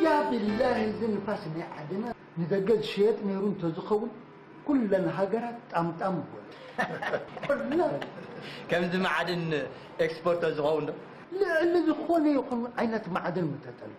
ያብላሂ እዚ ንፋስ ናይ ዓድና ንደገ ዝሸየጥ ነይሩ እንተዝኸውን ኩለን ሃገራት ጣምጣም በሉ ኩለን ከምዚ ማዕድን ኤክስፖርት ዝኸውን ዶ ልዕሊ ዝኾነ ይኹን ዓይነት ማዕድን ምተጠልቡ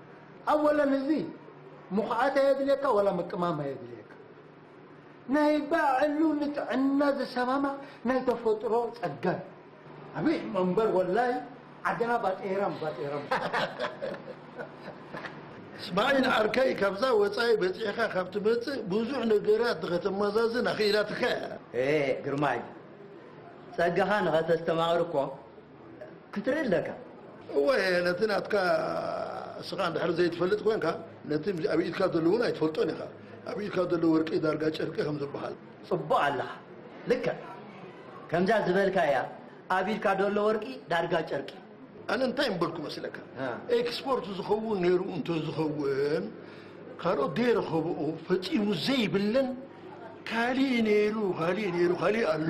ኣወለን እዚ ሙኽዓት ኣየድልየካ ዋላ ምቅማም ኣየድልየካ ናይ ባዕሉ ንጥዕና ዝሰማማዕ ናይ ተፈጥሮ ጸጋ እዩ። ኣበይ ሕማም እምበር ወላሂ ዓድና ባጤራም ባጤራም። እስማዒል ዓርከይ ካብዛ ወጻኢ በጺሕካ ካብ ትመጽእ ብዙሕ ነገራት ንኸተመዛዝን ኣኽኢላትካ እያ። እህ ግርማይ ጸጋኻ ንኸተስተማቕር እኮ ክትርኢ ኣለካ። እወ ነቲ ናትካ እስኻ እንድሕር ዘይትፈልጥ ኮንካ ነቲ ኣብ ኢድካ ዘሎ እውን ኣይትፈልጦን ኢኻ። ኣብ ኢድካ ዘሎ ወርቂ ዳርጋ ጨርቂ ከም ዝበሃል። ጽቡቕ ኣለኻ ልክዕ ከምዛ ዝበልካያ ኣብ ኢድካ ዘሎ ወርቂ ዳርጋ ጨርቂ። ኣነ እንታይ ምበልኩ መስለካ ኤክስፖርት ዝኸውን ነይሩ እንተዝኸውን ካልኦት ዘይረኸብኦ ፈጺሙ ዘይብለን ካሊእ ነይሩ ካሊእ ነይሩ ካሊእ ኣሎ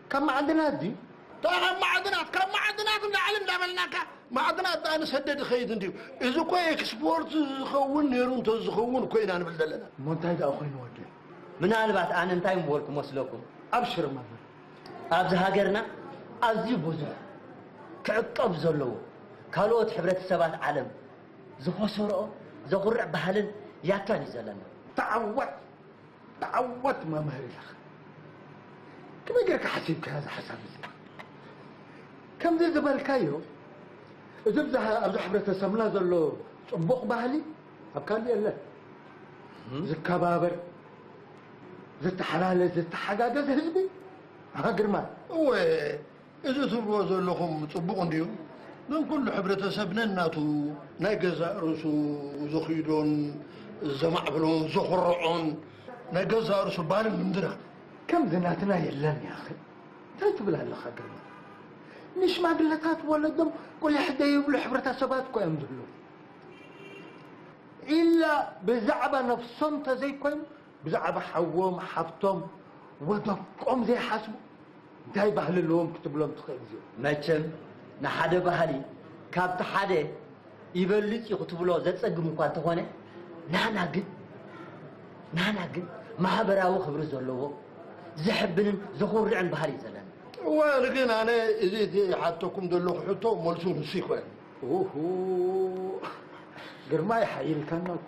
ካብ ማዓድናት ድዩ? እታ ካብ ማዓድናት ካብ ማዓድናት ንላዕሊ እንዳበልናካ ማዓድናት ዳኣ ንሰደድ ይኸይድ እንድዩ እዚ እኮ ኤክስፖርት ዝኸውን ኔሩ እንተዝኸውን እኮ ኢና ንብል ዘለና። እሞ እንታይ ዳኣ ኮይኑ ወደይ። ምናልባት ኣነ እንታይ ምበልኩ መስለኩም ኣብሽር መምህር ኣብዚ ሃገርና ኣዝዩ ብዙሕ ክዕቀብ ዘለዎ ካልኦት ሕብረተሰባት ዓለም ዝኸሰርኦ ዘኹርዕ ባህልን ያታን እዩ ዘለና። ተዓወት ተዓወት መምህር ኢለኻ ከመይ ጌርካ ሓሲብካያ እዛ ሓሳብ እዚኣ ከምዚ ዝበልካዮ እዚ ኣብዚ ሕብረተሰብና ዘሎ ፅቡቕ ባህሊ ኣብ ካልእ የለን ዝከባበር ዝተሓላለ ዝተሓጋገዝ ህዝቢ ሃገርማ እወ እዚ ትብልዎ ዘለኹም ጽቡቕ እንድዩ ግን ኩሉ ሕብረተሰብ ነናቱ ናይ ገዛእ ርእሱ ዘኽይዶን ዘማዕብሎን ዘኹርዖን ናይ ገዛእ ርእሱ ባህሊ ምንድራ ከምዚ ናትና የለን ያኺ ታይ ትብል ኣለኻ ግርማ ንሽማግለታት ወለዶም ቁሊሕ ዘይብሉ ሕብረተሰባት እኮ እዮም ዝብሉ ኢላ ብዛዕባ ነብሶም ተዘይኮይኑ ብዛዕባ ሓዎም ሓብቶም ወደቆም ዘይሓስቡ እንታይ ባህሊ ኣለዎም ክትብሎም ትኽእል እዚኦም። መቸም ንሓደ ባህሊ ካብቲ ሓደ ይበልጽ እዩ ክትብሎ ዘጸግም እኳ እንተኾነ ናህና ግን ናህና ግን ማህበራዊ ክብሪ ዘለዎ ዘሕብንን ዘኹርዕን ባህሊ እዩ ዘለና። እዋል ግን ኣነ እዚ እቲ ሓተኩም ዘለኹ ሕቶ መልሱ ንሱ ይኮነ። ኡሁ ግርማይ ሓይልካና እኮ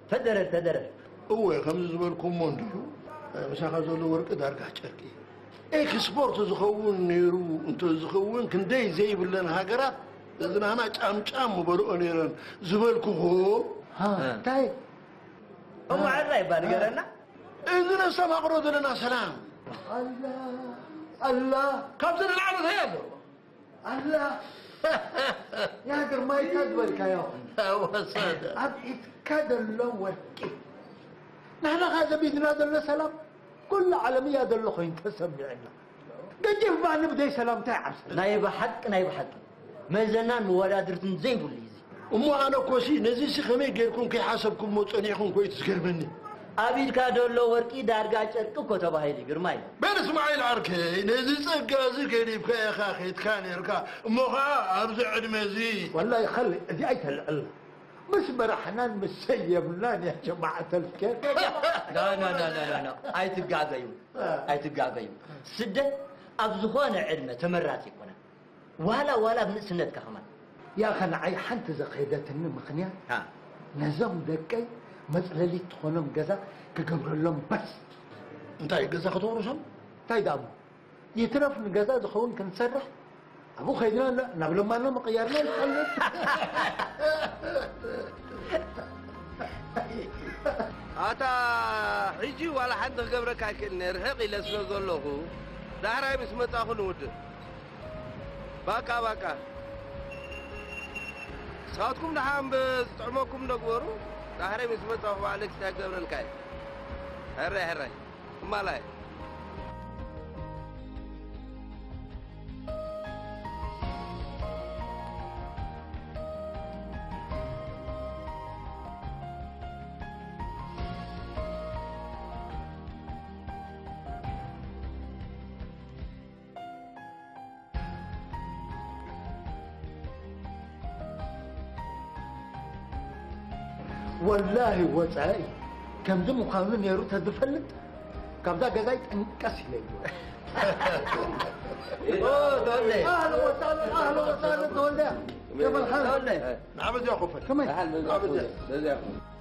ተደረ ተደረ። እወ ከምዚ ዝበልኩሞ እንድዩ ምሳኻ ዘሎ ወርቂ ዳርጋ ጨርቂ ኤክስፖርት ዝኸውን ነይሩ እንተዝኸውን ክንደይ ዘይብለን ሃገራት እዚ ናህና ጫምጫም ምበልኦ ነይረን ዝበልኩኹ እንታይ እሞ ዕራይ እባ ንገረና እዚ ነስተማቕሮ ዘለና ሰላም ኣላ ኣላ ካብዚ ንላዕሊ እንታይ ኣሎ ኣላ ያ ግርማይ እካ ዝበልካዮ ወሰደ ኣብ ኢድካ ዘሎ ወርቂ ንሕናኻ ዘቢድና ዘሎ ሰላም ኩሉ ዓለም እያ ዘሎ ኮይኑ ተሰሚዕና ገጅፍ ባኒ ብዘይ ሰላም እንታይ ዓብሰ ናይ ብሓቂ ናይ ብሓቂ መዘናን መወዳድርትን ዘይብሉ እዩ እዚ እሞ ኣነ እኮሲ ነዚሲ ከመይ ጌርኩም ከይሓሰብኩሞ ጸኒሕኩም ኮዩ ዝገርመኒ። ኣብ ኢድካ ደሎ ወርቂ ዳርጋ ጨርቂ እኮ ተባሂሉ እዩ ግርማይ። በል እስማዒል ዓርከይ ነዚ ጸጋ እዚ ገዲፍካ ኢኻ ኬድካ ኔርካ እሞ ኸኣ ኣብዚ ዕድመ እዚ። ወላሂ ኸልድ እዚ ኣይተልዕልና ምስ መራሕናን ምስ ሰብ የብልናን ያ ጀማዓት ኣልከር። ኖኖኖኖኖ ኣይትጋገዩ ኣይትጋገዩ ስደት ኣብ ዝኾነ ዕድመ ተመራጺ ኣይኮነን። ዋላ ዋላ ኣብ ንእስነትካ ከማን። ያኸ ንዓይ ሓንቲ ዘኼደትኒ ምኽንያት ነዞም ደቀይ መጽለሊት ትኾኖም ገዛ ክገብረሎም በስ። እንታይ ገዛ ከተውርሶም እንታይ ደኣ እሞ ይትረፍ ንገዛ ዝኸውን ክንሰርሕ ኣብኡ ከይድና ናብ ለማኖ ምቕያርና ይሓልፍ ኣታ ሕጂ ዋላ ሓንቲ ክገብረካ ኣይክእልኒ ርሕቕ ኢለ ስለ ዘለኹ ዳሕራይ ምስ መጻኹ ንውድእ ባቃ ባቃ ንስኻትኩም ድሓ እምበ ዝጥዕመኩም ነግበሩ ዳሕረይ ምስ መጻኹ ባዕለ ክታይ ክገብረልካ እየ ሕራይ ሕራይ እማላይ ወላሂ ወፃኢ ከምዚ ምዃኑ ነይሩ ተዝፈልጥ ካብዛ ገዛይ ጠንቀስ ኢለ ይወ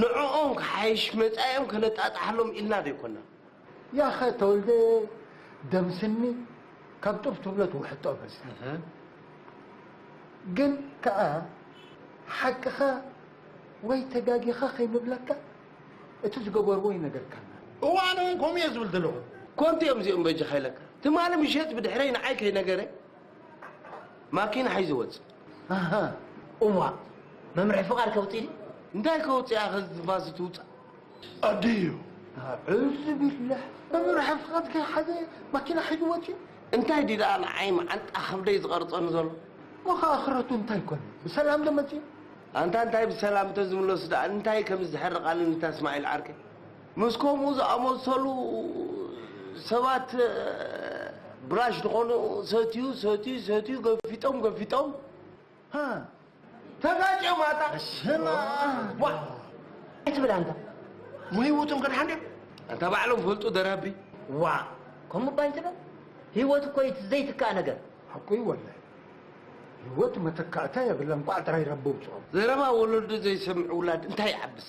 ንዕኦም ክሓይሽ መጻኢኦም ከነጣጣሓሎም ኢልና ዘይኮና። ያኸ ተወልደ ደም ስኒ ካብ ጡብ ትብሎ ትውሕጦ በዚ ግን ከኣ ሓቅኻ ወይ ተጋጊኻ ከይንብለካ እቲ ዝገበርዎ ይነገርካና። እወ ኣነ ውን ከምኡ እየ ዝብል ዘለኹ። ኮንቱ እዮም እዚኦም በጃኻ ኢለካ ትማሊ ምሸት ብድሕረይ ንዓይ ከይነገረ። ማኪና ሒዙ ወፅ ኣሃ እዋእ መምርሒ ፍቃድ ከውፅኢ ድዩ? እንታይ ከውፅኣ ከዚ ትንፋስ ትውፃእ ኣደዮ ኣዑዙ ቢላህ መምርሒ ፍቃድ ከይሓዘ ማኪና ሒዙ ወፅዩ እንታይ ድዩ ደኣ ንዓይ መዓንጣ ከብደይ ዝቐርፀኒ ዘሎ ወኸ ኣኽረቱ እንታይ ኮነ ብሰላም ዶ መፅዩ ኣንታ እንታይ ብሰላም እንተዝምለሱ ደኣ እንታይ ከም ዝሕርቃኒ ንታ እስማዒል ዓርከይ ምስ ከምኡ ዝኣመሰሉ ሰባት ብራሽ ዝኾኑ ሰትዩ ሰትዩ ሰትዩ ገፊጦም ገፊጦም ሀ፣ ተጋጭዮም ኣታ ስማ ዋ ኣይትብል ኣንታ ንህይወቶም ከድሓን ድዮም ኣንታ ባዕሎም ፈልጡ ደራቢ ዋእ ከምኡ እባ ኣይትበል ህይወት እኮ እዩ ዘይትካእ ነገር ሓቁ እዩ ወላሂ ህይወት መተካእታ የብላን ቋዕ ጥራይ ረቢ ውፅኦም ዘረባ ወለዱ ዘይሰምዕ ውላድ እንታይ ይዓብስ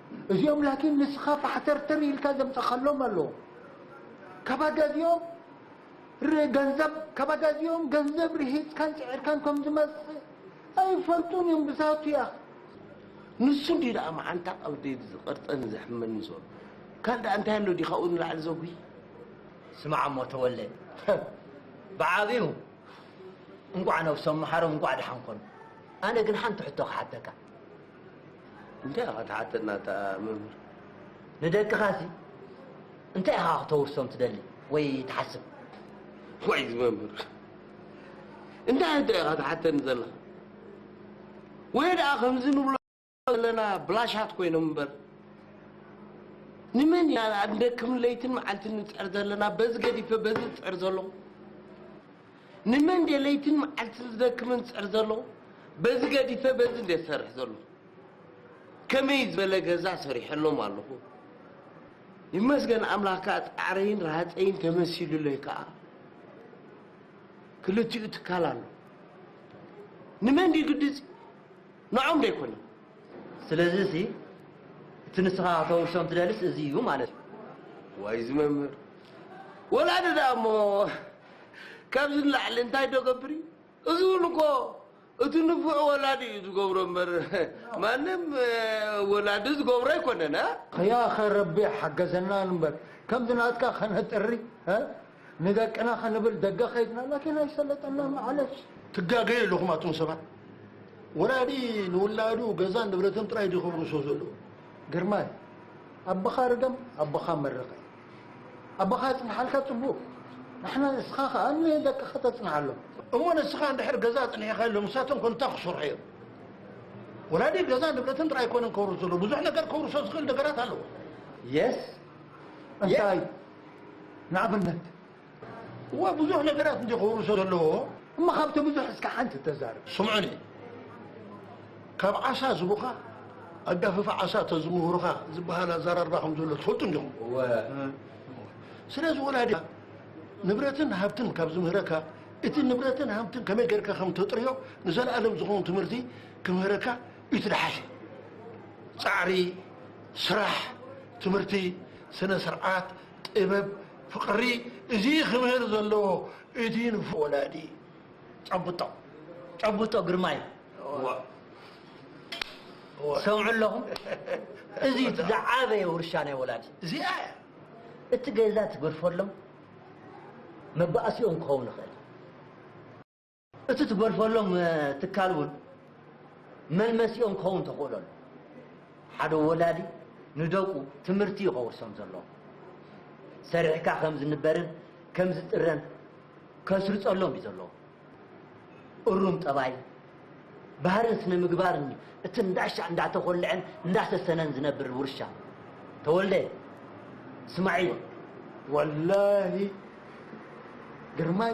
እዚኦም ላኪን ንስኻ ፋሕተርተር ኢልካ ዘምጻኻሎም ኣሎ ካብ ኣጋዚኦም ር ገንዘብ ካብ ኣጋዚኦም ገንዘብ ርሂጽካን ጽዒርካን ከም ዝመጽእ ኣይፈልጡን እዮም ብዛቱ እያ ንሱ እንዲዩ ደኣ መዓንታ ቀልቢ ዝቐርጸን ዘሕመኒ ዘሎ ካልእ ደኣ እንታይ ኣሎ ድዩ ካብኡ ንላዕሊ ዘጉሂ ስማዕ እሞ ተወልደ ብዓቢኡ እንቋዕ ነብሶም መሓሮም እንቋዕ ደሓን ኮኑ ኣነ ግን ሓንቲ ሕቶ ክሓተካ እንታይ ኢኻ ትሓተና እታ መምህር? ንደቅኻሲ እንታይ ኢኻ ክተውርሶም ትደሊ ወይ ትሓስብ? ዋይ እዚ መምህር እንታይ ሕቶ ኢኻ ትሓተኒ ዘለኻ? ወይ ደኣ ከምዚ ንብሎ ዘለና ብላሻት ኮይኖም እምበር ንመን ኢና ንደክም ለይትን መዓልትን ንፅዕር ዘለና በዚ ገዲፈ በዚ ዝፅዕር ዘለኹ ንመን ድየ ለይትን መዓልትን ዝደክምን ዝጽዕር ዘሎ በዚ ገዲፈ በዚ እንድየ ዝሰርሕ ዘሎ ከመይ ዝበለ ገዛ ሰሪሐሎም ኣለኹ ይመስገን ኣምላኽ ከኣ ጻዕረይን ረሃጸይን ተመሲሉለይ ከኣ ክልቲኡ ትካል ኣሎ ንመን ድዩ ግድጽ ንዖም ዶ ኣይኮነን ስለዚ ሲ እቲ ንስኻ ከተውርሶም ትደልስ እዚ እዩ ማለት እዩ ዋይ እዚ መምህር ወላዲ ደኣ እሞ ካብዚ ንላዕሊ እንታይ ዶ እገብር እዩ? እዚ እውን እኮ እቲ ንፉዕ ወላዲ እዩ ዝገብሮ እምበር ማንም ወላዲ ዝገብሮ ኣይኮነን። ያኸ ረቢ ይሓገዘና እንበር ከምዚ ናትካ ከነጥሪ ንደቅና ክንብል ደገ ከይድና ላኪን ኣይሰለጠና ማዓለሽ። ትጋገዩ ኣለኹም ኣቱም ሰባት ወላዲ ንውላዱ ገዛን ንብረትን ጥራይ ድዩ ከውርሶ ዘለዎ ግርማይ ኣቦኻ ርገም ኣቦኻ መርቅ። ኣቦኻ የጽንሓልካ ጽቡቅ ንሕና ንስኻ ከኣ ንደቅኻ ተጽንሓሎም። እሞ ንስኻ እንድሕር ገዛ ኣጽኒሕኻሎም ንሳቶም ከ እንታይ ክሰርሑ እዮም? ወላዲ ገዛ ንብረትን ጥራይ ኣይኮነን ከውርስ ዘለዎ ብዙሕ ነገር ከውርሶ ዝኽእል ነገራት ኣለዎ። Yes እንታይ ንኣብነት? እወ ብዙሕ ነገራት እንድዩ ክውርሶ ዘለዎ እሞ ካብቲ ብዙሕ እስከ ሓንቲ ተዛረብ። ስምዑኒ ካብ ዓሳ ዝቡካ ኣጋፍፍ ዓሳ ተዝምህሩኻ ዝበሃል ኣዘራርባ ከም ዘሎ ትፈልጡ እንዲኹም። እወ ስለዚ ወላዲኻ ንብረትን ሃብትን ካብ ዝምህረካ እቲ ንብረትን ሃብትን ከመይ ጌርካ ከም ተጥርዮ ንዘለኣለም ዝኸውን ትምህርቲ ክምህረካ እዩ ትደሓሸ ጻዕሪ ስራሕ ትምህርቲ ስነ ስርዓት ጥበብ ፍቅሪ እዚ ክብህር ዘለዎ እቲ ንፉዕ ወላዲ ጨብጦ ጨብጦ ግርማይ እወ ሰምዑ ኣለኹም እዚ ዝዓበየ ውርሻ ናይ ወላዲ እዚኣ እቲ ገዛ ትግርፈሎም መባእሲኦም ክኸውን ይኽእል እቲ ትገድፈሎም ትካል እውን መልመሲኦም ክኸውን ተኽእሎ ኣሎ። ሓደ ወላዲ ንደቁ ትምህርቲ እዩ ከውርሶም ዘለዎ። ሰሪሕካ ከም ዝንበርን ከም ዝጥረን ከስርጸሎም እዩ ዘለዎ። እሩም ጠባይ፣ ባህርን ስነ ምግባርን እዩ እቲ እንዳሻዕ እንዳተኾልዐን እንዳሰሰነን ዝነብር ውርሻ። ተወልደ እስማዒል። ወላሂ ግርማይ